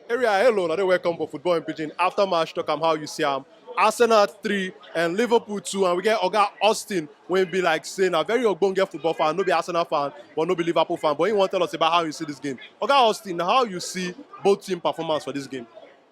Area, hello, and welcome for Football in Pidgin. After match, talk am how you see am. Arsenal 3 and Liverpool 2 and we get Oga Austin wey be like say na very ogbonge football fan, no be Arsenal fan but no be Liverpool fan but he wan tell us about how you see this game. Oga Austin, how you see both team performance for this game?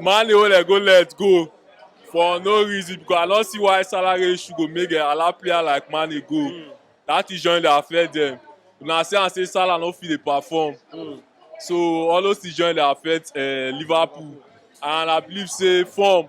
Mane wey dem go let go for no reason because I don see why salary issue go make dem allow player like Mane go. Mm. That thing join dey affect them. Una see am say Salah no fit dey perform. Mm. So all those things join dey affect uh, Liverpool. And I believe say form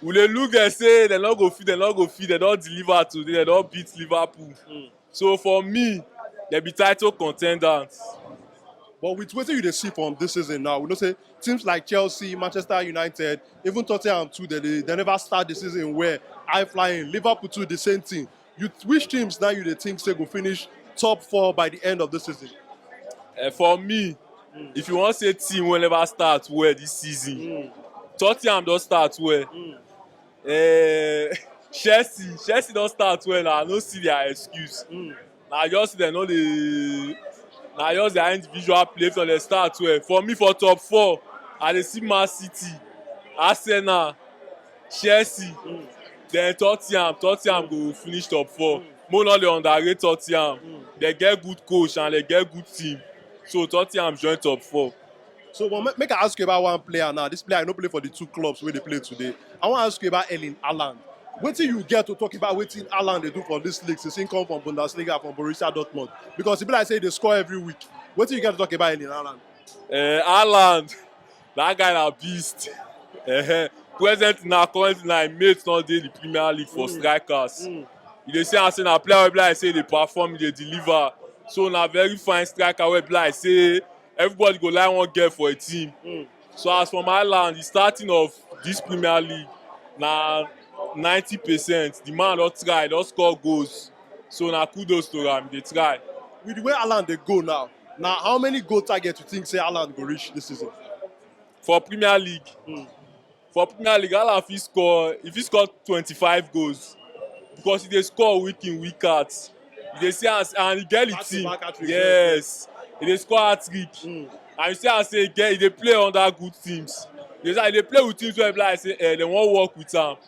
we dey look dem say dem no go fit dem no go fit dem don deliver today dem don beat liverpool mm. so for me dem be title contenders. but with wetin you dey see from this season now we know say teams like chelsea manchester united even tottenham too dem dey dem never start the season well high flying liverpool too the same thing You which teams now you dey think say go finish top four by the end of the season? Uh, for me, mm. if you want to say team will never start well this season, mm. Tottenham don't start well. Mm. Uh, Chelsea, Chelsea don't start well. I don't see their excuse. Mm. Now just they know the now just their individual play from the start well. For me, for top four, I dey see Man City, Arsenal. Chelsea then Tottenham, Tottenham go finish top four. Mo no dey underrate Tottenham. They get good coach and they get good team. So Tottenham join top four. So but ma- make I ask you about one player now. This player no play for the two clubs where they play today. I want to ask you about Erling Haaland. Wetin you get to talk about wetin Haaland dey do for this league since he come from Bundesliga from Borussia Dortmund? Because e be like say he dey score every week. Wetin you get to talk about Erling Haaland? Uh, Haaland, That guy na beast. Uh-huh. Present na currently na im mate don dey the Premier League for strikers. You dey see am say na player wey be like say dey perform, dey deliver. So na very fine striker wey be like say everybody go like wan get for a team. So as from Ireland, the starting of this Premier League na 90 percent. The man don try, don score goals. So na kudos to am, he dey try. with the way Alan dey go now Na how many goal target you think say Haaland go reach this season? for Premier League. Mm. For Premier League, Haaland fit score if he score 25 goals because he dey score week in week out. You dey see as and he get the team. Yes, he dey score hat trick. Mm. And you see as he get he dey play under good teams. He dey, he dey play with teams wey be like say eh, they wan work with am.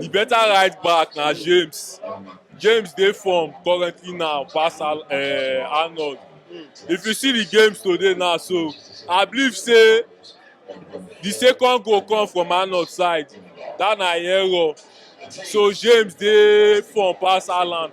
Di beta right back na James, James dey form currently now pass Arnold, if you see di game today now so I believe sey di second goal come from Arnold side dat na im error so James dey form pass Arnold.